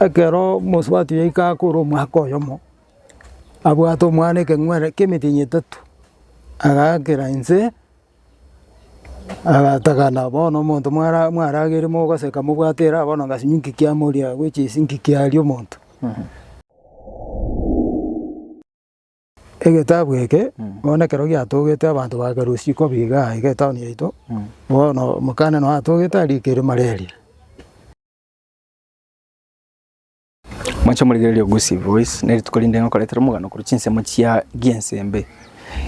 ekero omosubati yaika akore omwaka oyomo, abwate omwana ekeng'were kia emetenyi etato, agaakera inse, agatagana bono omonto mwara mwaragere mogoseka mobwate eraha bono ngasibia inki kiamoria gochia ase inki kiaria omonto. Egetabu eke bono ekero giatogete abanto bakerwa isiko buya iga iga etown yaito, bono omokane noyo atogete arikire malaria. Mwanche morigereria Ogusi Voice, ne rituko rinde ngokoretera omogano korwa chinsemo chia Giensembe.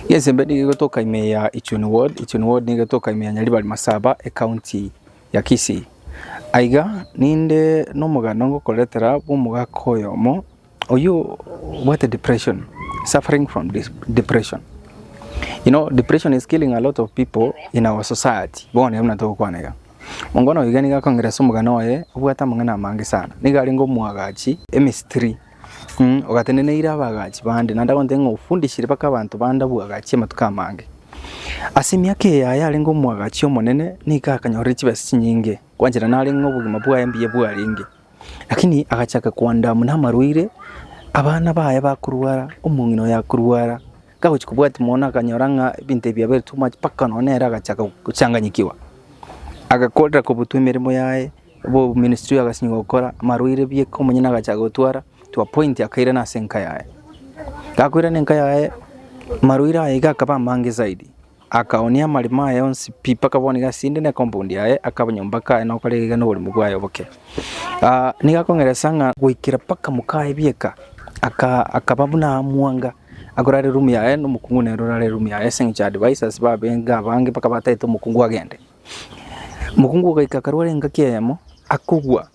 Giensembe nigo egotoka ime ya Ichuni ward, Ichuni ward nigo egotoka ime ya Nyaribari Masaba, ecounty ya Kisii. Aiga, ninde nomogano ngokoretera bwa omogaka oyomo Oyio obwate depression, suffering from depression, you know depression is killing a lot of people in our society, bono buna togokwana iga. Mongo noyo iga nigo akongera ase omogana oye obwate amang'ana amange sana, nigo arenge omoagachi emistiri mm ogateneneire abaagachi bande naende agontebia ng'a ofundishire mpaka abanto bande oboagachi amatuko amange. Ase emiaka eye yaye arenge omoagachi omonene nigo akanyorire chibesa chinyinge, gwanchera narenge obogima bwaye mbuya bwarenge. Lakini agachaka koanda amo namarwaire, abana baye bakorwara, omong'ina oye akorwara, kagochia kobwati mono akanyora ng'a ebinto ebi biabaire too much, mpaka nonye nere agachaka gochanganyikiwa. Agakorera kobutwa emeremo yaye, obo oboministri agasinywa gokora, amarwaire bieka omonyene agachaka gotwara, to a point akairana ase enka yaye. Gakoirana enka yaye, amarwaire aye iga akaba amange zaidi. Akaoonia amarimo aye onsi pi mpaka bono iga asinde ne compound yaye, akaba nyomba kaye na okora egega noboremu bwaye oboke. Ah, nigo akong'eresa ng'a goikera mpaka mokaye bieka, aka akaba buna amwanga, akorara eroom yaye na omokungu nere orare eroom yaye ase eng'encho ya advisers babenge abange mpaka bataete omokungu agende. Mokungu ogaika akarwara engaki eyemo, akogwa,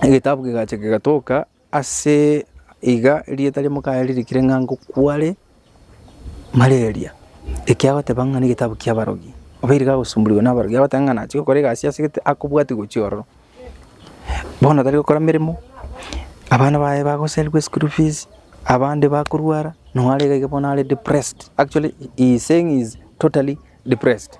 egetabu kegacha kegatoka. Ase iga erieta ri'Omokayaa ririkire ng'a ngokware malaria, eke agoteba ng'a negetabu ki'abarogi, obeire gagosumbuliwa nabarogi, agoteba ng'a nachie gokora egasi ase gete akobwatia gochia ororo. Bono tari gokora emeremo, abana baye bagosarigwa eschool fees, abande bakorwara, noo are iga iga bono are depressed, actually he is saying he is totally depressed.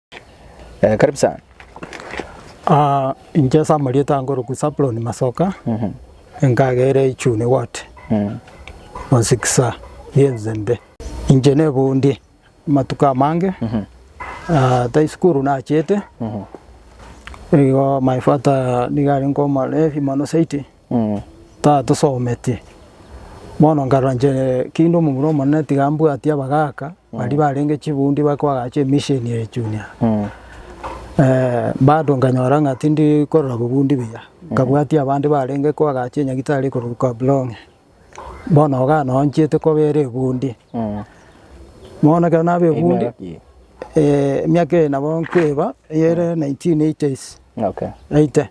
Eh, karibu sana. Ah, inche ase amarieta ange orokwa Saplon Masoka nkagere Ichuni Ward Mosikisa Yenzende inche nebundie amatuko amange Ah, tai sukuru nachete igo my father nigo arenge omorebi mono zaidi Tatosometie. Bono nkarora inche kinde omomura omonene tiga mbwatie abagaaka baria barenge chibundi bare koagacha emisheni eye junior. Bado nkanyora ng'a tindi korora bobundi buya, nkabwatia abande barenge koagacha enyagitari ekorokwa kablong'e. Bono iga noo nchiete kobera ebundi. Bono ekero naba ebundi. Emiaka ki? Emiaka eye nabo nkoeba eyere nineteen eighties. Okay. Eighty.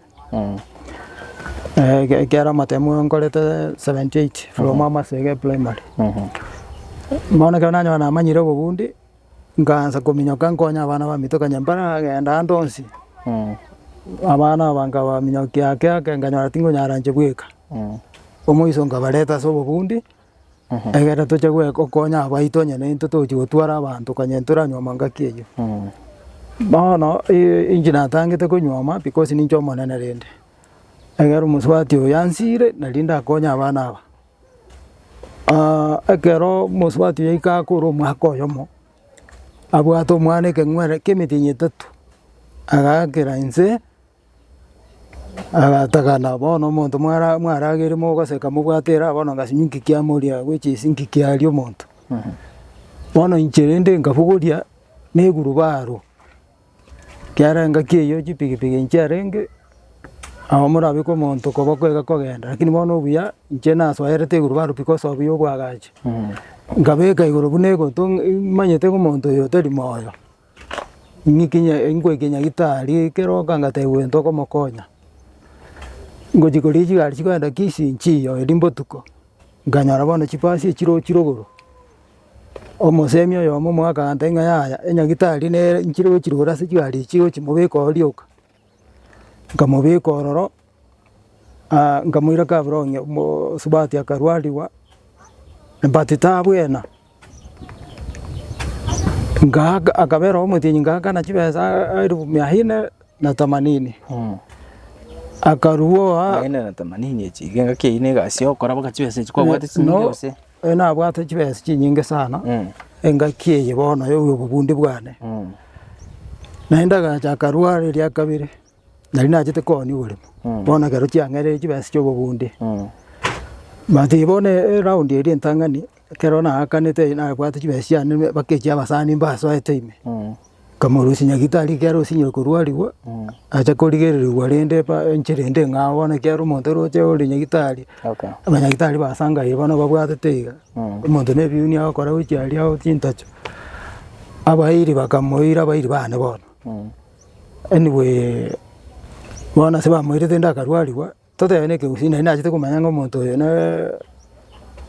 Ekiagera amatemu nkorete seventy eight from amasege primary, bono ekero nanyoha namanyire obogundi nkaansa kominyoka nkonye abana abamito okonyora mbare agenda ande onsi, abana aba nkabaminyokia ake ake nkanyora tingonyara inche bweka, omoiso nkabareta ase obogundi. Ekero tochia gokonya abaito onye nintwe togochia gotwara abanto kanye ntoranyuoma ngaki eyio. Bono inche natangete konyuoma because ninche omonene rende, egere omosubati oyo yansire nari ndakonye abana aba. ekero omosubati oyo yaika akore omwaka oyomo, abwate omwana ekeng'were kiemitinyi etato, agakera inse. Agatagana, bono omonto mwara mwaragere mogoseka mobwate eraha bono ngasinywa engaki amoria gochia ase engaki aria omonto. Bono inche rende nkabogoria na egurubaro, ekiagera engaki eyio chipigipigi nchiarenge, nabo morabeke omonto koba kwega kogenda, lakini bono obuya inche nasoerete egurubaro because of obuya obwagacha. Nkabeka igoro buna egotong imanyete ng'a omonto oyo tari moyo. Ng'ikinya nkoikinya gitari keroka ngatebia oyo ntokomokonya, ngochia koria chigari chikoenda Kisii nchiyo erio mbotuko, nkanyora bono chibasi echirochire igoro, omosemi oyomo omoaka agantebia ng'a yaya enyagitari nere nchirochire igoro ase chigari echi gochia mobeka oo rioka, Nkamobeka ororo, nkamoira Kaburonge omosubati akarwarigwa, but tabwena, ngaaka akabera omotienyi ngaakana chibesa elfu mia nne na themanini, akarwoa. Mia nne na themanini echi, iga ngaki eyio na egasi okora mpaka chibesa echi kwabwate ching'iti gose. Oyo nabwate chibesa chinyinge sana, engaki eye bono y'obobundi bwane. Naende agacha akarwara eria kabere, nari nachete koonia oboremo, bono ekero chiang'ereire chibesa chi'obobundi. But bono eround eri entang'ani, ekero naakanete nabwate chibesa chiane mpaka echi'abasani mbasoete ime. Kamorusia nyagitari ekero osinyire korwarigwa, acha korigererigwa rende pa enchera ende ng'a ao bono ekiagera omonto oroche ore nyagitari, Okay. abanyagitari basangaye bono babwatete iga, omonto na ebiuni agokora gochia aria oo chintacho, abairi bakamoira abairi bane bono. Anyway, bono ase bamoirete ende akarwarigwa, Totebe nekegusii nari nachete komanya ng'a omonto oyo nere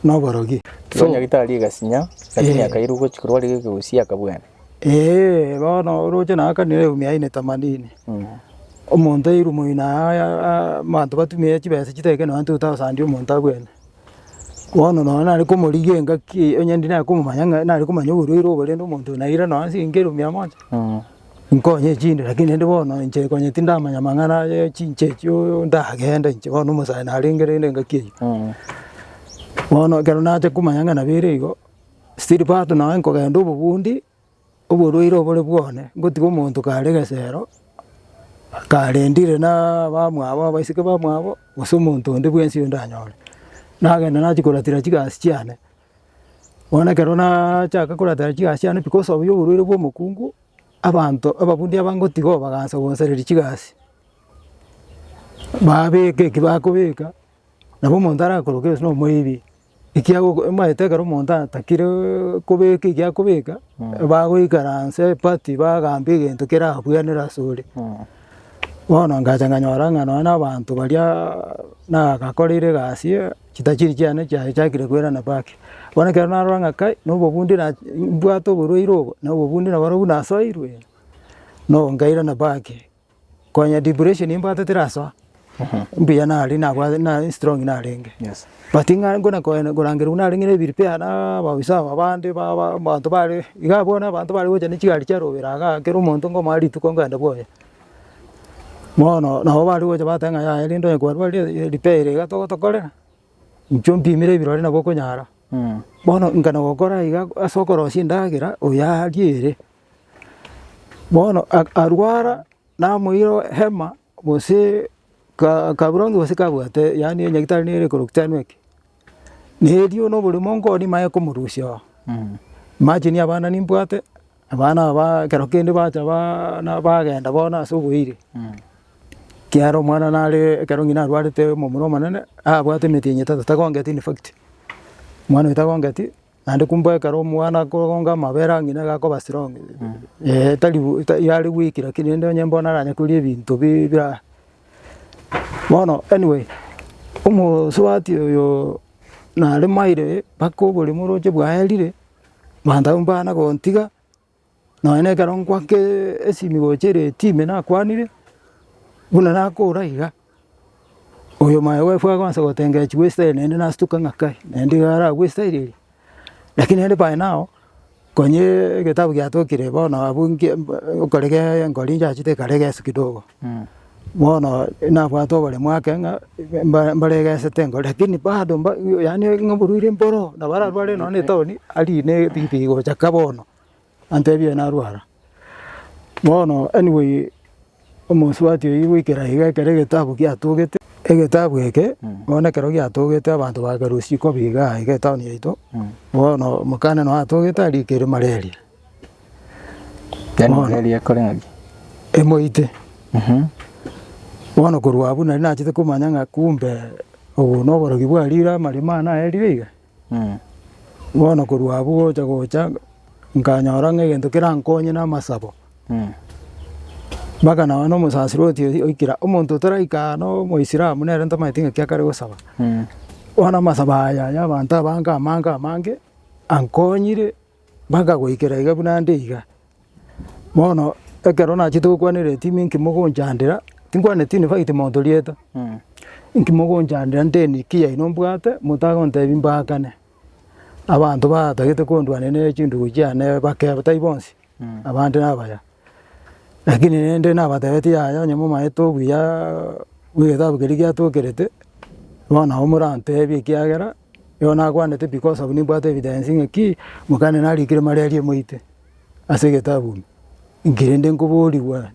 noborogi. Igo nyagetari agasinya, lakini Eh. akairwa gochia korwa arenge ekegusii akabwena. Ee, bono oroche naye akanera eumi yaye ne tamadini. Omonto airwe moino aya a- abanto batumire chibesa chitari ekero nonye totagosandia omonto abwene. Bono nonye nare komorigia engaki eye, onye ndi nare komomanya ng'a nare komanya oborwaire obo rende omonto oyo naira nonye ase engaki eromi amo inche. Nkonye chinde, lakini rende bono inche konye tindamanya amang'ana aye chinche echio ndagende inche bono omosae narenge rende engaki eyio. Bono ekero nacha komanya ng'a nabo ere igo, still bado nonye nkogenda obogundi, oborwaire obore bwane, nkotiga omonto kare egesero, karendire na abamwabo abaiseke bamwabo, gose omonto onde bwensi oyio ndanyore. Nagenda nachia koratera chigasi chiane, Bono ekero naachaka koratera chigasi chiane because of y'oborwaire bw'omokungu, abanto ababundi aba ngotiga oo bagaancha gosareria chigasi, baabeka eki bakobeka, nabo omonto arakoroke gose na omoibi, ekiago omanyete ekero omonto atakireeee kobeka eki akobeka, bagoikaransa eparty bagamba egento kerabwenere ase ore. Bono ngacha nganyora ng'a nonya na abanto bariaaaa nagakoreire egasi eee. Chitachiri chiane chiachakire koirana bake. Bono ekero narora ng'a kai, nobobundi na, mbwate oborwaire obo, na obobundi na bono buna nasoirwe, no nkairana bake, konya depression eye mbwate terasoa, mbuya nare nabwate na strong narenge. But ng'a nkona koena korangera buna narenge ne prepare na abaofisa aba abande ba ba abanto bare iga abwo na abanto bare gocha ne chigari chiarobera igaa, kera omonto nkomanya rituko nkaenda bwoye. Bono nabo bari gocha bateba ng'a yaya rende onye kwarwarire e- repair ere iga togotokorera, inchwo mpimire ebirori nabo okonyara. Bono inga nagokora iga ase okorosia endagera oyo aria ere. Bono a- arwara namoira hema gose ka- kaburangi gose kabwate yaani enyagitari nere ekorokia teanueti. Na erio nobori monka oo nimaye komorusia oo. Imagine abana nimbwate, abana aba ba ekero kende bacha baa na bagenda bono ase oboiri, ekiagera omwana naree ekero ng'ina arwarete omomura omonene, abwate emetienyi etato tagongeti in fact, omwana oyo tagongeti. Naende kumbe ekero omwana akogonga amabere ang'ina nigo akoba strong, eh tari yari weak lakini rende onye mbono aranyekoria ebinto bi bira. Bono anyway, omosubati oyooo nare maire mpaka oboremo oroche bwaerire, manto abwo mbana gontiga, Nonye nekero ngoaka esimi gocha ere etime nakwanire, buna nakoora iga, oyo maye bwefaa agoansa gotengechigwa goistaria naende nastuke ng'a kai, naende iga aragwestaireria. Lakini naende pae nao, konyee egetabu giatokire bono abwo nki mb okorege enkoro ninchiachete ekarege Yeso kidogo. Bono nabwate oboremu ake ng'a mba- mbaregesete igo lakini bado mba yaani ng'a oborwaire mboro nabo ararware nonye na etaoni arine ebinto bigocha ka bono, antebie narwara. Bono anyway omosubati oyio goikera iga ekero egetabu giatogete, egetabu eke bono ekero giatogete abanto bakerusia ikobi igaa iga etaoni yaito, bono omokane noyo atogete arikire malaria. Yaani Bono. Israeli ekore ng'aki? emoite Mhm. bono korwa abwo nari nachete komanya ng'a kumbe obo noborogi bwa riire amaremo aya naerire iga Mm. bono korwa abwo gocha gocha nkanyora ng'a egento kerankonye na amasabo Mm. mpaka naba nomosasiro otiyo oikire omonto otaraika aa na omoisiramu nere ntamanyeti ng'aki akare gosaba Mm. bono amasabo aya ya abanto abange amange amange ankonyire Mpaka goikera iga buna nde iga. Bono ekero nachete gokwanera etimu inki mogonchandera, tinkwaneti invite monto rieta, inki mogonchandera nteni ki yaino mbwate motagontebia mbaakane. Abanto batagete kondwania ne chindugu chiane bake tai bonsi, abande nabaya. Lakini rende nabatebetie yaya onye momaete obuya bw'egetabu keria giatokerete, bono nabo morantebie ekiagera Nigo nakwanete because of nimbwate evidence ng'a ki, mokane narikire malaria moite ase egetabu ime, inki rende nkoborigwa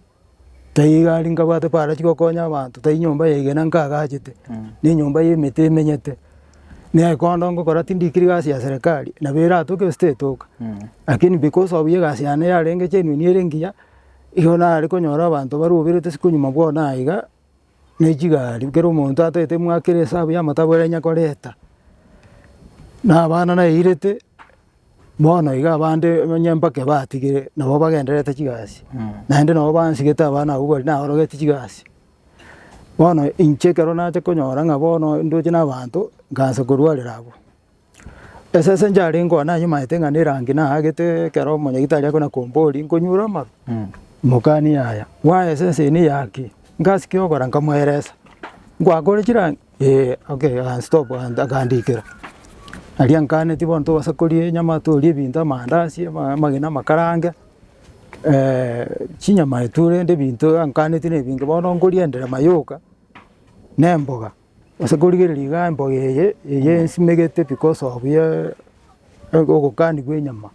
taiga aria nkabwate para chigokonya abanto, tai nyomba ya igena nkagachete, na enyomba ya emete emenyete, na ekondo ngokora tindikiri gasi ya serikali, nabo eratoke gose tetoka, lakini because of egasi yane yarenge genuine ere engiya, igo nare konyora abanto baroberete sikonyuma bono aiga, ne chigari, kera omonto atagete mwaka ere esabu y'amatabu ere anya koreta, na abana nairete, bono iga abande onye mpaka ebatigire nabo bagendererete chigasi, naende nabo bansigete abana abwo baria nabarogeti chigasi. Bono inche ekero nacha konyora ng'a bono ndoche na abanto, ngansa korwarera abwo. Esese nchare nkoa nanyumaete ng'a nerangi naagete ekero omonyagitari akona kombori nkonyure amaru, mokani yaya bwaya esese eye neya ki? Ngasi ki ogokora nkamoeresa, nkwakore chirangi? Ee okay aya stop akandikera. Aria nkaneti bono tobasakorie nyama torie ebinto amandasi ama amagena amakarange chinyama etu rende ebinto ankaneti na ebinge bono nkoria enderema yoka na emboga. Ase korigereria iga emboga eye eye nsimegete because of ye ogokani bwa enyama,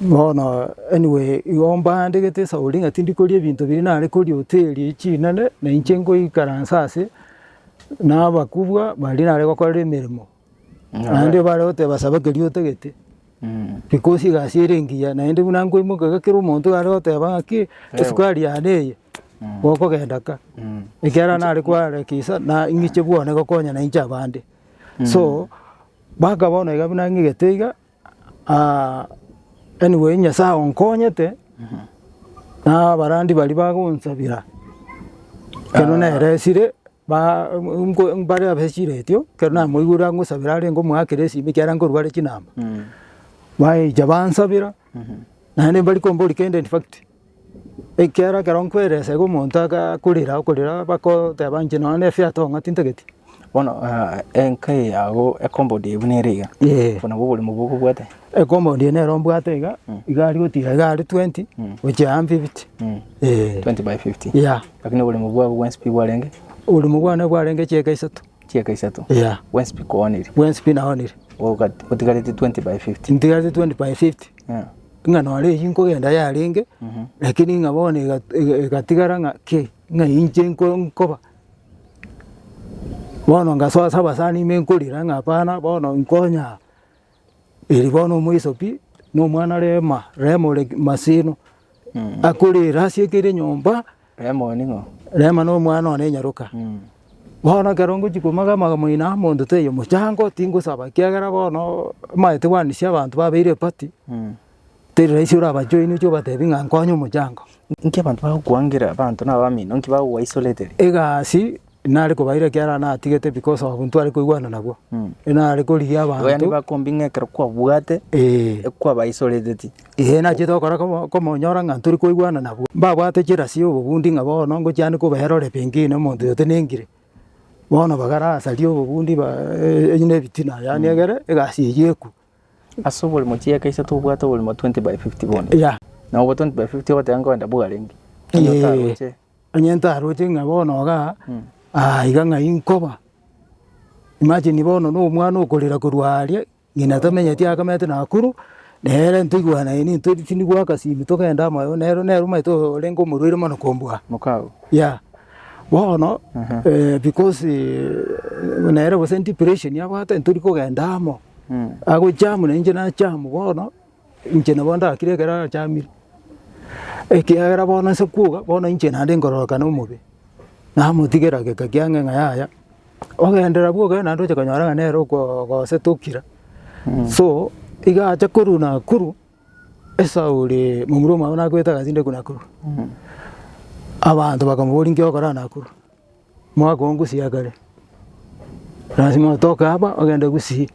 bono anyway igo mbandegete esauri ng'a tindi koria ebinto biria nare koria hoteli echi chinene, na inche nkoikaransa ase na abakubwa baria nare gokorera emeremo. Naende bare goteba saba keria otagete, because egasi ere engiya, naende buna nkoimoka iga kera omonto iga are goteba ng'aki esukari yane eye gokogenda ka, ekiagera nare koarekisa na ing'iche bwane gokonya na inche abande. So mpaka bono iga buna ng'igete iga anyway Nyasae onkonyete na abarandi baria bagonsabera ekero neresire. Ba, nko, mbare abe chiretio, ekero namoigure angosabera arenge omoakera esimi ekiagera nkorware chinamba. Baecha bansabera, naende mbari kombori kende in fact, ekiagera ekero nkweresa iga omonto aga akorera akorera bakoteba inche nonye na efiato ng'a tintageti. Bono enka eye yago e compound eye buna ere iga, Ee. obwo nabwo oboremo bokobwate. Ekompound eye nero mbwate iga, igari gotiga igari 20 gochia aya 50. Ee. 20 by 50. Yeah. Lakini oboremo bwabo bwensi pi bwarenge? Oboremo bwane bwarenge chieka isato. Chieka isato? Yeah. Bwensi pi koonire? Bwensi pi naonire. Otigarete 20 by 50? Ntigarete 20 by 50. Yeah. Ng'a nore eyio nkogenda yarenge, lakini ng'a bono egatigara ng'a ki, ng'a inche nkoba. Bono ngasoa ase abasani ime nkorira ng'a hapana bono nkonye aa. Eri bono omoisoki na omwana Rema, Rema ore masino, akorere ase ekeire enyomba, Rema oyo ning'o? Rema na omwana one nyaroka. Bono ekero ngochia komoga amaga moino amo ndoteyo mochango, tingosaba ekiagera bono amaete bwanisia abanto babeire epati, Teri rahisi orabajoini oche obatebi ng'a nkonye omochango. Inki abanto bagokwangera? Abanto nabamino, inki bagogoa isoliteri? Egasi nare kobaira ekiagera natigete because of ntware koigwana nabwo. Nare korigia Igo yaani abanto. bakombi ng'a ekero kwabwate, Ee. ekwaba isoreteti. Ee nachete gokora komo- komonyora ng'a ntori koigwana nabwo. Mbabwate chirasi ya obobundi ng'a bono ngochiani kobera ore pengine omonto oyotenengire. Bono bagara asari obobundi ba- e- e- na ebitina yaani egere egasi eyio ekwe. Ase oborimo chieka iso tobwate oborimo 20 by 50 bono. Yeah. Na obo 20 by 50 ogoteba nkoenda Bugarenge. Onye Eh, otaroche. onye ntaroche ng'a bono iga Mm. ah, iga ng'ai nkoba imagine bono na omwana okorera korwa aria ng'ina tamenyeti akamete Nakuru nere ntoigwanaine nto tindi goaka simu togende amayo nero nero omanyete orenge omorwaire mono kombua Mokao. yeah bono Aha. eh, because eh, nere gose depression abwate ntori kogenda amo Agochama na inche nachama bono, inche nabo ndakire ekero arachamire, ekiagera bono nse kwoka, bono inche naende nkororokana omobe, namotigera geka kiang'e ng'a yaya, ogenderera bwoka iga naende oche konyora ng'a nere okoo ogosete okira. So iga acha korwa Nakuru, esauri momura omwabo nakwete agachinde korwa Nakuru, abanto bakamoboria inki ogokora Nakuru. Mwaka oo ngusii akare, lasima otoke aba ogende gusii.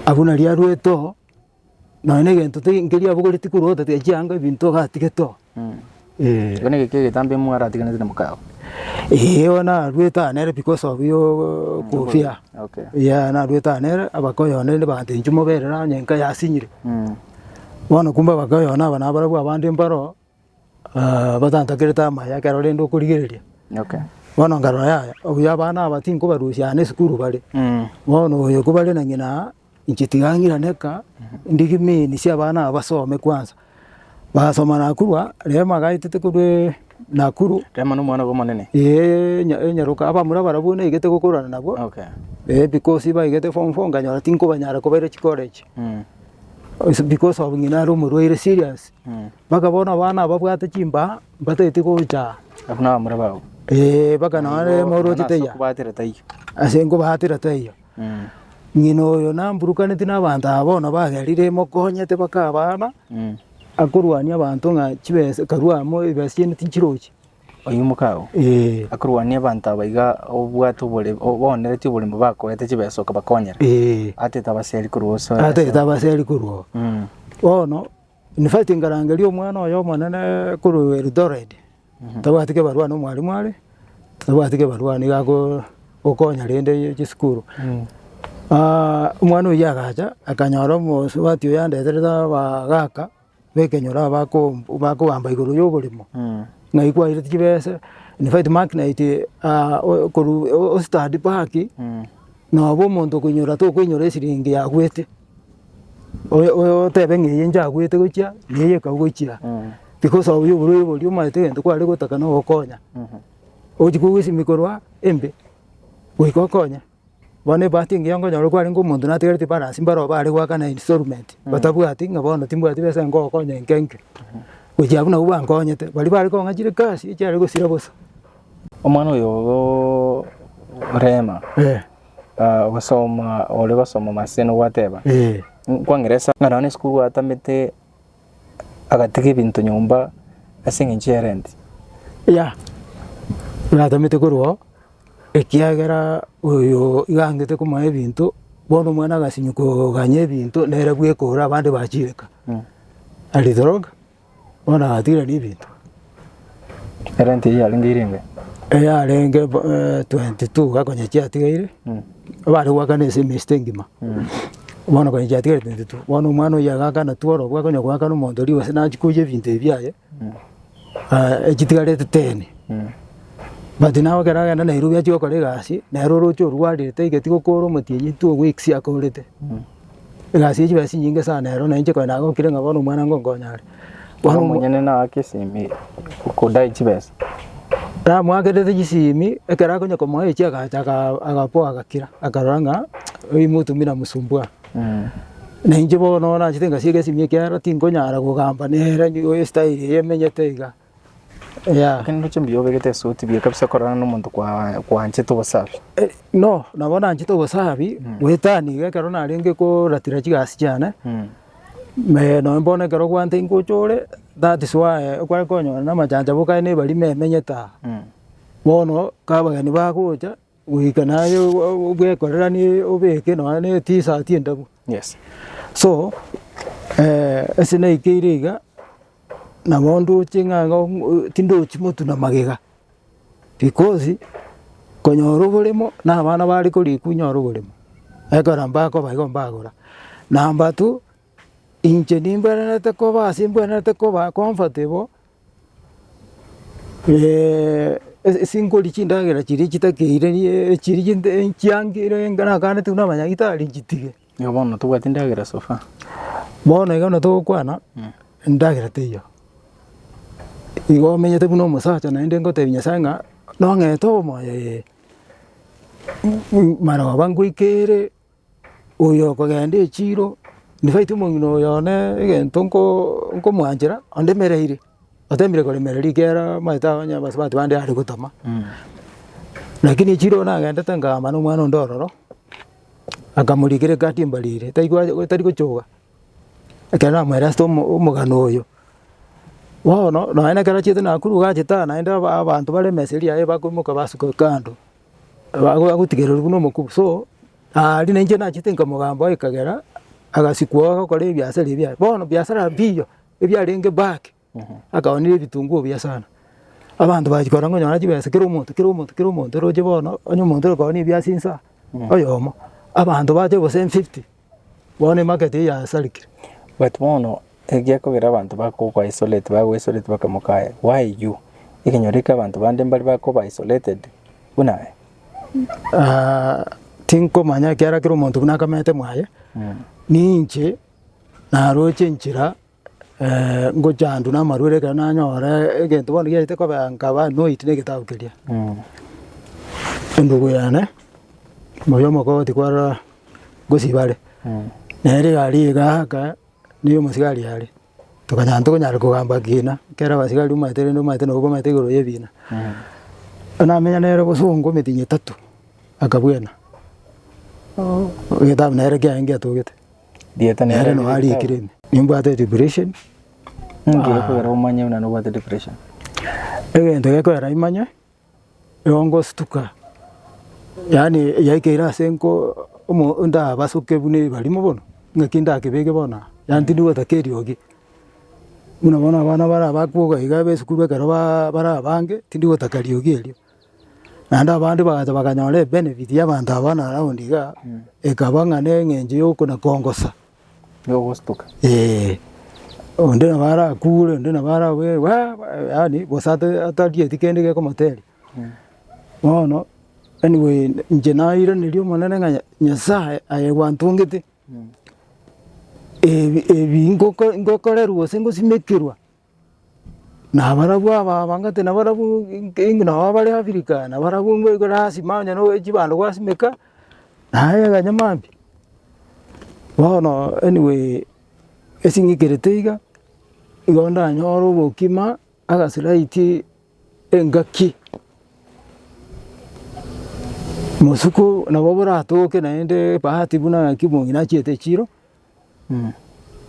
Abwo nario arwete oo, nonya na egento tei nkeria abogoreti tikorwota tiga chianga ebinto ogatigete oo, eeh. Igo nigiki egetambe imwe aratiganete na mokaye oo? Eeh bono narwete aa nere because of yoo kofia, Okay. eeh narwete aa nere abakoyone rende baga tenchi moberere onye nkaye asinyire. Bono kumbe abakoyone aba nabarabwo abande mbaro. batantakerete amaya ekero rende okorigereria. Bono nkarora yaya, obuya abana aba tinkobarusia aane esukuru bare. Bono oyo kobare na ng'ina aa, inche tiga ng'irane eka, ndigi means abana aba basome kwansa. Basoma nakorwa, Rehema agaetete korwaa Nakuru. Rehema na omwana obo omonene? Eeh nya enyaroka, abamura barabwo naigete gokorana nabwo. Eeh because baigete form four nkanyora tinkobanyara kobaira chicollege. Ase because of ng'ina are omorwaire serious. Mpaka bono abana ababwate chimbaa mbatageti gocha Abwo nabamura babo. ee, mpaka nonye moroche taiya Kubatera taiyo. ase nkobaatera taiyo. Mm. Ng'ina oyo namburukaneti nabaanto aba bono bagerire emokonyete baka abana Mm. akorwania abanto ng'a chibesa karwa amo ebesa chiane tinchirochi. Oyio mokao. Ee, Akorwania abanto aba iga obwate obore obonereti oborimo bakoete chibesa okabakonyera. ee, Atete abaseri korwa ase. atagete abaseri korwa oo. Mm. Bono. Yunivasiti nkarangeria omwana oye omonene korwa Eldoret, tabwati kebarua na omwalimu are, tabwati kebarua nigo agokonya rende chisukuru. Omwana oyio agacha akanyora omosubati oyo andeterete abagaka b'ekenyoro aba bakogamba igoro y'oboremo, ng'ai kwairete chibese, infact magnet korwa o study baki, nabo omonto okoinyora tokoinyora esiringi yagwete. Oyo oyo otebe ng'a eye nchaguete gochia, na eye ekau gochia, tikosaobia oborwaire boria omanyete egento kware gotaka nogokonya, ogochi kogosimia korwa embe goika okonye. Bono ebahati engiya okonyora kwarenge omonto natigareti balance mbare obo are goakana installment, batabwati ng'a bono timbwati besa ngokonya enke enke, gochia abwo nabwo bankonyete. Baria bare kong'a chire kasi echiare gosira bosa. Omwana oyooo orema. ah, gosoma ore gosoma maseno gwateba Eh. kwa ngeresa ng'a nonye esukuru gwatamete agatiga ebinto nyomba ase eng'encho ya rent Ya, natamete korwao, ekiagera oyo iga angete komoa ebinto, bono omwana agasinywa koganya ebinto, nere bweka ore abande bachireka. Aritoroka, Bono agatigerania ebinto. Erenti eyio yarenge ere engae? Eyarenge eh, 22 iga konya chiatigaire, bare goakana ase emesito engima. Bono konya chiatigaire 22, bono omwana oyio agakana tu orobo akonya goakana omonto rigo ase nachia koiya ebinto ebi biaye, ah, echitigarete ten. But naye ekero agenda Nairobi achia gokora egasi, nere oroche orwarire taigeti gokoora omotienyi two weeks akorete. Egasi ye chibesa chinyinge sana ero, nainche konya nagokire ng'a bono omwana ngonkonya are. Bono Bono omonyene nagake esimi okodae chibesa. Namoakerete chisimi, ekero akonya komoa echi agacha aga- agapoa agakira, akarora ng'a oyu motumia namosumbua. Nainche bono nachete ngasieka esimi ekiagera tinkonyara kogamba nere nigo estyle eye emenyete iga. Yeah. Lakini ndoche mbuya obegete esuti buya kabisa korana na omonto kwa kwanchete obosafi. Eh, no nabo nanchete obosabi gwetani iga ekero narenge koratira chigasi chiane Mm. me noe bono ekero gwante ingocha ore that is why okware konyora na amachanchaboka aye nebari memenyete aa Mm. bono ka abageni bagocha Goika naye bwekorerani obeke nonya ne T-shirt endabu. Yes. So ase naikeire iga, nabo ndoche ng'a iga tindochi motuna magega, because konyora oboremo na abana bare korikwa inyore oboremo, ekero mbakoba igo mbagora. Number two. Inche nimbwenerete koba ase mbwenerete koba comfortable, sinkori chindagera chiria chitakeire chiria chiangire naganetigwe na abanyagitari nchitige. Igo bono tobwati ndagera so far. Bono iga buna togokwana, endagera teiyo. Igo omenyete buna omosacha naende ngotebi Nyasae ng'a nong'ete omoyo ee, maroba ngoika ere. Oyo okogenda echiiro, infact omong'ina oyo one egento nko nkomwanchera onde emereire, otemire koremera rigera omanyete abwo onye abasubati bande are gotama. Lakini echiiro oyo nagendete nkaamba na omwana onde ororo, akamorikera egati embarire taigwa tari gochoka, ekero namoire asete omo omogano oyo. Bono nonye na ekero achiete nakuru gachete aa naende aba abanto bare emesa eria yaye bakoimoka basuka kando. Ago agotigererigwa nomokubi, so riria nainche nachete inka mogambo ekagera agasikwa oo agokora ebiasara ebi aye. Bono biasara mbiya ebiarenge back akaonire ebitunguo buya sana. Abanto bachia korora ng'a onyore chibesa kera omonto kera omonto kera omonto roche bono onye omonto okoonire ebiase insa oyomo, abanto bacha obosemi fifty Bono emarket eye yasarikire. But bono egiakogera abanto bakogokwa isolate bagwe isolate bakamoka aye why you? Ekenyoro ekio abanto bande mbare bakoba isolated buna aye. Ah, tinkomanya ekiara kera omonto buna akamete mwaye, ninche naroche enchera ngochandwa namarwaire ekero nanyora egento bono giachete kobea nkaba noiti na egetabu keria. Endugu yane moyo omokoti kwarora gosiba are, nere iga aria iga aka nigo omosigari are, tokanya tokonyara kogamba kina ekero abasigari omanyete rende omanyete nabo bamanyete igoro y'ebina. Namenya nere bosongo emitinyi etato, akabuena egetabu nere kiaye ngiatogete. Rieta nere nero nao rieta. arikire ime. Nimbwate depression Inki gekogera omanye buna nobwate depression? egento gekorera imanye igo ngostuka yaani yaikeire ase nko omo ndabasuke buna ebarimo bono ng'aki ndakebeke bono aa yaani tindi gotaka eriogi buna bono abana bara abakwo iga iga b'esukuru ekero baa bara abange tindi gotaka riogi erio. Naende abande bagacha bakanyora ebenefit y'abanto aba na around iga, ekaba ng'a na eng'encho y'oko na kongosa. Yogostuka. Eeh, onde nabo arakure, onde nabo arabwate bwaa yaani gose ata atarieti kende gekomoteria. Bono anyway inche nairaneria Omonene ng'a Nyasae aye gwantongete, ebi ebi ngoko ngokorerwa gose ngosimekerwa. Nabarabwo aba abangate nabarabwo nabo abare Africa, nabarabwo ngoikwa nasima onye na chibando gwasimeka, naye aganya mambia. Bono anyway esing'ikerete iga, igo ndanyore obokima agasiraiti engaki, mosuku nabo boratoke naende ebahati buna ng'aki mongi nachiete chiro,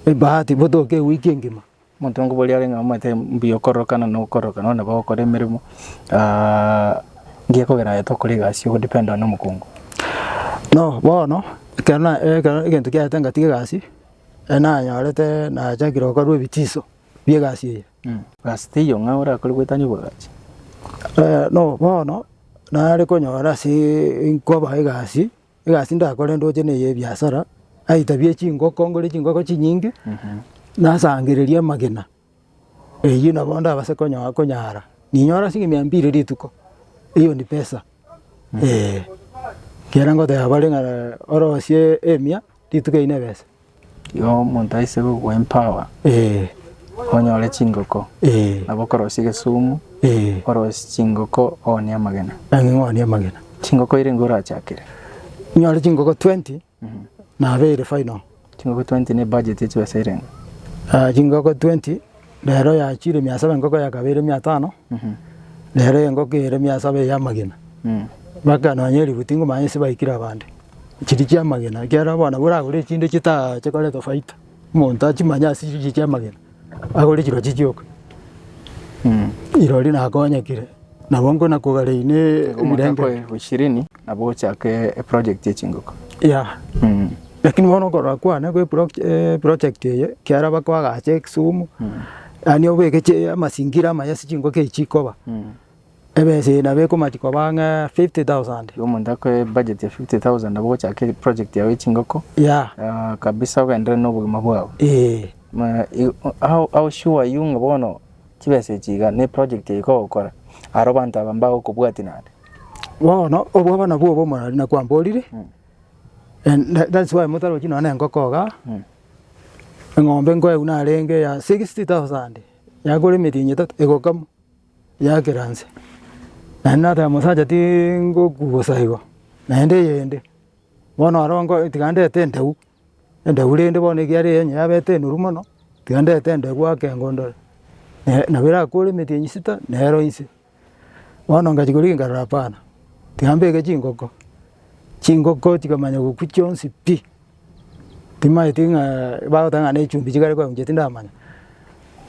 ebahati botoke ewiki engima. Omotongi boria arenge amanyete mbuya okororokana na okororokana onde nabo ogokora emeremo ngiya ekogera aye tokora egasi ogodependaa na omokungu. No bono ekero na ekero egento kiaete ngatiga egasi ere nanyorete nachakire gokorwa ebitiso bia egasi eye. Gasi teiyo ng'a orakore goetania obogachi. no bono nare konyora asee nkoba egasi egasi ndakore ndoche na ey'ebiasara, aitabie chingoko ngore chingoko chinyinge, nasangererie amagena, eyio nabo ndabase konyo- konyara. Ninyore ase mia mbiri rituko, eyio ni pesa eeh. Ekiagera ngoteba bare ng'a orosie emia rituko eyio nebesa. Igo omonto aise kogwa empower onyore chingoko nabo okorosia egesumu orosie chingoko oonie amagena. Chingoko eire nigo orachakire? Nyore chingoko twenty nabo ere final. Chingoko twenty ne ebudget ye chibesa eire ng'a? Chingoko twenty. Rero yachiire mia saba engoko ya kabere mia tano, rero engoko ere mia saba ey'amagena. Baka nonya elifu tingomanya ase baikire abande. Chiria chi'amagena, ekiagera bono nabo oragore echinde chita chikoretwe faita, omonto tachimanya ase chichia chi'amagena, agore chirochio chioka. Rirorio nakonyekire, nabo nkona kogaraine ebirengererio. Nabo ochake eproject ye chingoko. Yeah. Mm. Lakini bono okorora kwane gwe proj- eh, project eye kiara bako agache ekisumu yaani obeke chi- amasingira amaya ase chingoka echi chikoba Mm. ebesa eye nabo ekomati koba ng'a 50,000 Igo omonto akoe budget ya 50,000 nabo ogochaka eproject yago ya chingoko yeah ah, kabisa ogenderere na obogima bwao. eh Ma- i- o- how- how sure are you ng'a bono chibesa echi iga na eproject eye ekogokora aro abanto aba mbagokobwatia naende? Bono obwo bono nabwo obomorero nakwamborire, and that- that's why motarochi nonye na engoko igaa, eng'ombe nkoegwa narenge eya sixty thousand, yagora emerianyi etato egokamwa, yakera nse. Naende nateba mosacha tingokwa bosa igo, naende eyende, bono oro nko tiga ndete entegu, Endeu rende bono ekiarenge onye yabete enoru mono, tiga ndete endegu ake engo ndore, nabo erakore emeti eye nyisita nero inse. Bono ngachia korigia nkarora hapana, tiga mbeke chingoko, chingoko chikamanya gokwa chionsi pi, timaeti ng'a bagoteba ng'a nechumbi chikare koyauchia tindamanya,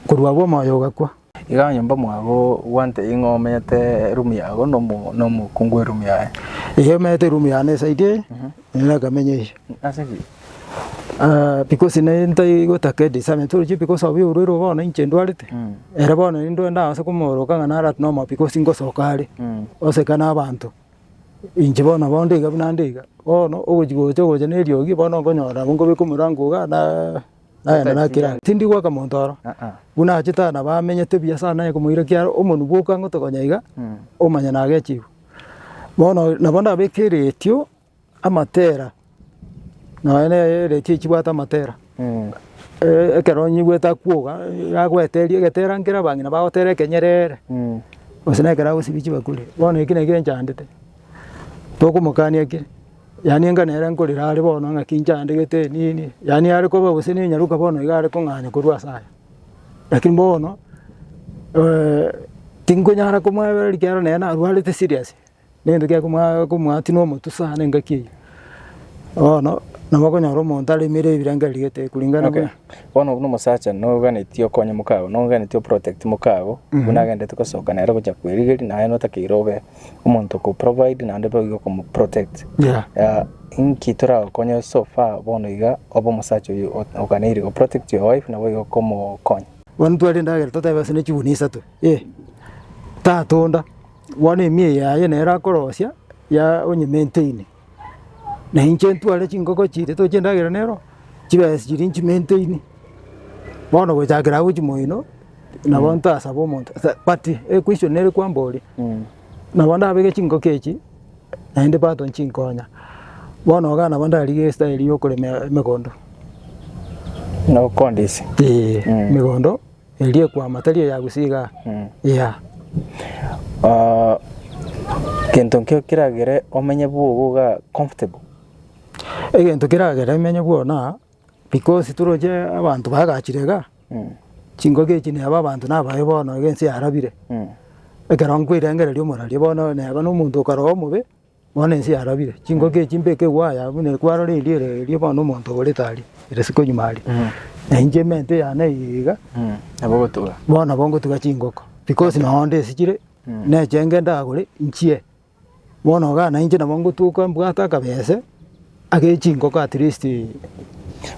korwa agwo omoyo ogakwa. Iga onye mbamwago gwantebia ng'a omenyete erumu yago nomokungu bw'erumu yaye. Eyi emenyete erumu yane esaidi eye, nere akamenya eyi. Ase ki? Because nere ntari gotaka edisagn, torochie because of eyi orwaire oo bono inche ndwarete, ere bono nindware ndagase komooroka ng'a nare at normal because ngosoka are, oseka nabaanto. Inche bono bondo iga buna nde iga, bono ogochi gocha ogocha na eriogi bono nkonyora nabo nkobeka omorango igaa na. Nagenda nakira ang'e, tindi goaka monto aro, buna achete aye nabo amenyete buya ase naye komoira ekiagera omonwe bwoka ngote konya iga, omanye nagechigwe. Bono nabo ndabeke eretio amatera, nonya ne eretio echibwate amatera, ekero onye igwete akwoga, yagoeteria egetera nkere abang'ina bagotera ekenyerere, gose nekero agosibia chibakuri, bono eki nekio enchandete, tokomokania ki. Yaani enga nere nkorera are bono ng'aki inche andegete enini, yaani are koba gose nenyaroka bono iga are kong'anya korwa ase aya. Lakini bono tinkonyara komwebera rikiaro nere narwarete serious, nento kia komwa komwatia na omotwe sana engaki eyio. Bono nabo okonyora omonto aremire ebirengererio gete kulingana Okay, na bono buna omosacha noganetie okonye mokago, noganetie oprotect mokago, buna agenderete gosoka nere gochia kwerigeria naye notakeire obe Omonto oko provide naende boigo okomo protect Yeah. Ah, inki toragokonye so far bono iga obe omosacha oyo o- oganeire go protect your wife naboigo okomokonya Bono ntware endagera totebe ase ne chiguni isato eh, tatonda bono emiya yaye nere akorosia ya onye maintain Na inche ntware chingoko chiria toche endagera nero, chibesa chiria nchimenteini, bono gochakera agwo chimoino, nabo ntasaba omonto sa but equestion nere kwambori, nabo ndabeke chingoko echi, naende pato nchinkonya. Bono iga nabo ndarigia estyle yokorema emegondo. Nokondisia. Eeh emegondo. Erio ekwama tari eyagusia iga, Yea. Ah, gento nkio kiragere omenye bwogo iga comfortable? Egento keragere menye bwogo na because toroche abanto bagachire iga, chingaki echi neba abanto nabaye bono iga ense yarabire, ekero nkwerengereria omorwaria bono neba na omonto okarogwa omobe. Bono ense yarabire, chingoko echi mbeke igwa aya, buna ekwarora erio ere erio bono omonto oborete aria, ere isiko nyuma aria. Na inche emente yane eye iga, Nabo ogotuga. bono nabo ngotuga chingoko, because nonya onde esichire, nechenge ndagore nchie. Bono iga nainche nabo ngotuka mbwate akabese, ake chingoko at least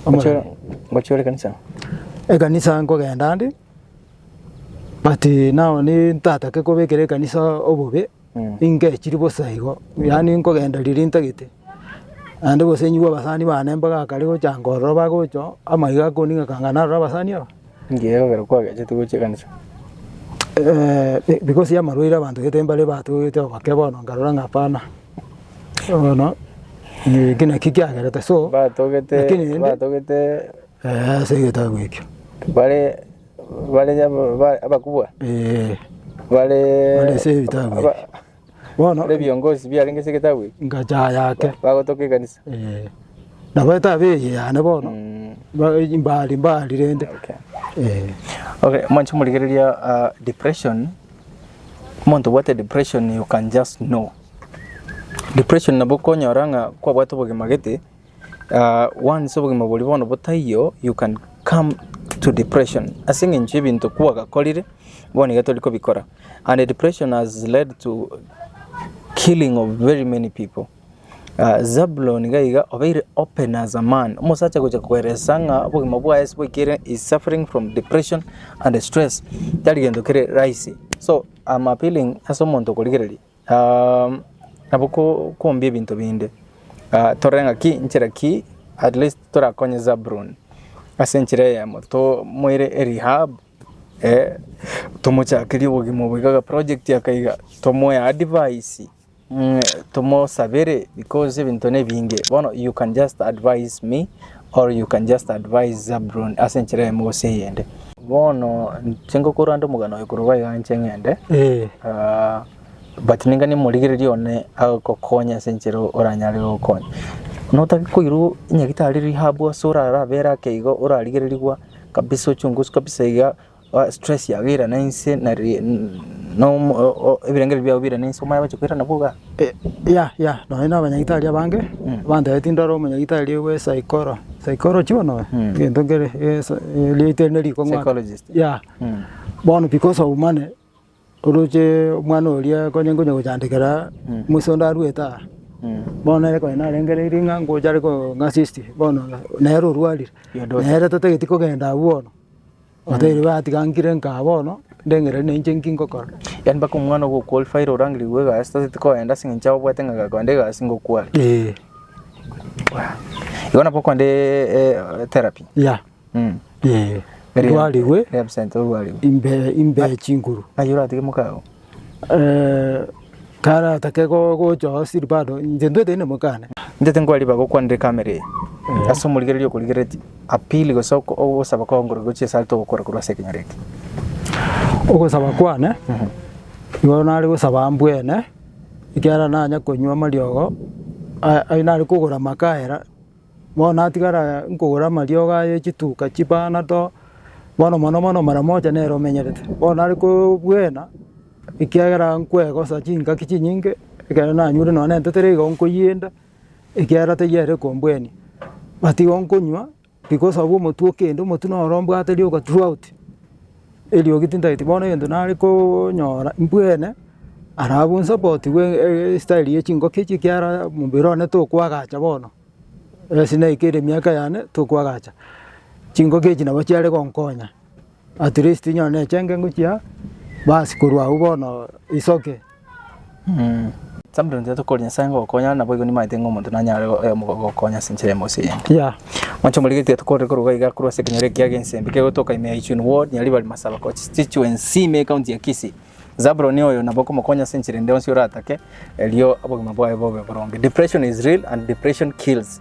Ngochie ngochie ore kanisa? Ekanisa nkogenda ande, but nao ni ntatake kobekera ekanisa obobe. Inke chiri bosa igo, yaani nkogenda riria ntagete, naende gose nyigwe abasani bane mpaka akare gocha nkorora bagocha oo, ama iga akoning'aka anga narore abasani aba. Inki egekogera kwagachete gochia ekanisa? because ya amarwaire abanto gete mbare batogete oboke bono nkarora ng'a hapana, bono eki nakio kiagerete so, Batogete, Lakini rende- batogete, eeh ase egetabu ekio. bare. Bare abakubwa, bare ebiongozi biarenge ase egetabu eke, bagotoka ekanisa. Nabo etabu eye yane bono mbari mbari rende. Okay, mwanche morigereria depression, omonto obwate depression you can just know. Depression nabo okonyora ng'a kwabwate obogima gete. Wansa obogima boria bono botaiyo you can come to depression ase eng'encho y'ebinto kwagakorire bono iga tori kobikora and depression has led to killing of very many people. Zabulon iga iga obeire open as a man, omosacha gocha koeresa ng'a obogima bwaye ase boikire he is suffering from depression and stress tari gento kere rahisi so am appealing ase omonto okorigereria. Nabo kombia ebinto binde, torore ng'aki inchera ki at least torakonye Zabuloni ase enchera eyemo, tomoire erehab, tomochakerie obogima obo iga agaproject aka iga, tomoe advice, tomosabere because ebinto nebinge. Bono you can just advise me Or you can just advise Zabuloni ase enchera eyemo gose eyende. Bono inche ngokora nde omogano oye korwa iga inche ng'ende, ah, but ningani morigereria one agokonya ase enchera oranyare gokonya. Notake koirwa nyagitari rihabu ase orarabe ere ake igo orarigererigwa kabisa ochunguzwe kabisa iga. Stress yago irana inse na ebirengererio biago birana inse omanye gocha koirana bwogo igaa. Yea yea nonya na abanyagitari abange bantebetie ndore omonyagitari bwa esaikoro, psychology bono oyo? Egento nkere riaito eri nerikong'u ake. Psychologist. Yea, bono because of money. Oroche omwana oria konye nkonya gochandekera Musa onde arwete aa, bono nere konye narenge riri ng'a ngocha are kong'assist bono nere orwarire, nere totageti kogenda abwo bono, otari batiga nkire nkaa bono ndengere na inche nki ngokora. Yaani mpaka omwana ogo okwalifayire orangirigwe egasi totageti kogenda ase eng'encho obwate ng'a gakogenda egasi ngokware. Eeh. Igo nabo okondeee therapy. Yeah. Ee, ndwarigwe represent ogwarigwe imbe imbe chinguru. ng'ai oratige moka oo Eh, taratake go- gochoo siri bado inche ntwete inde mokane. Inche tinkwariba gokwanire camera eye ase omorigereria okorigeretie appeal gose oko- ogosaba kwao ngoro gochia ase are togokora korwa ase ekenyoro eke. Ogosaba kwane igo nare gosaba ambwene ekiagera nanya konywa amariogo aya nare kogora amakaera. Bono natigara nkogora amariogo aye chituka chipanado, bono mono mono mara moja nere omenyerete. Bono nare kobuena, ekiagera nkwegosa chingaki chinyinge, ekero nanyure nonye na entetera igo nkoyienda, ekiagera teyio ere ekombwenia. But igo nkonywa, bikosabu omotwe okende, omotwe noro mbwate rioka throughout. Eriogi tintageti bono egento nare konyora mbwene ara abwo nsapotigwe estyle ye chingoki echi ekiara omobere one tokwagacha bono, ase naika ere emiaka yane tokwagacha, chingoki echi nabo chiare gonkonya at least nyone echenge ngochia bas korwa agwo bono isoke. Sample ntiga tokore Nyasae ng'a ogokonya nabo igo nimanyete ng'a omonto nanyare gokonya ase enchera emo gose eyende. Yeah. Mwancha omorikeri tiga tokore koruga iga korwa ase ekenyoro ekiya egensembe kegotoka ime ya Ichuni ward, Nyaribari Masaba Constituency ime ecounty ya Kisii. Zabuloni oyo nabo okomokonya ase enchera ende yonsi oratake erio obogima bwaye bobe boronge. Depression is real and depression kills.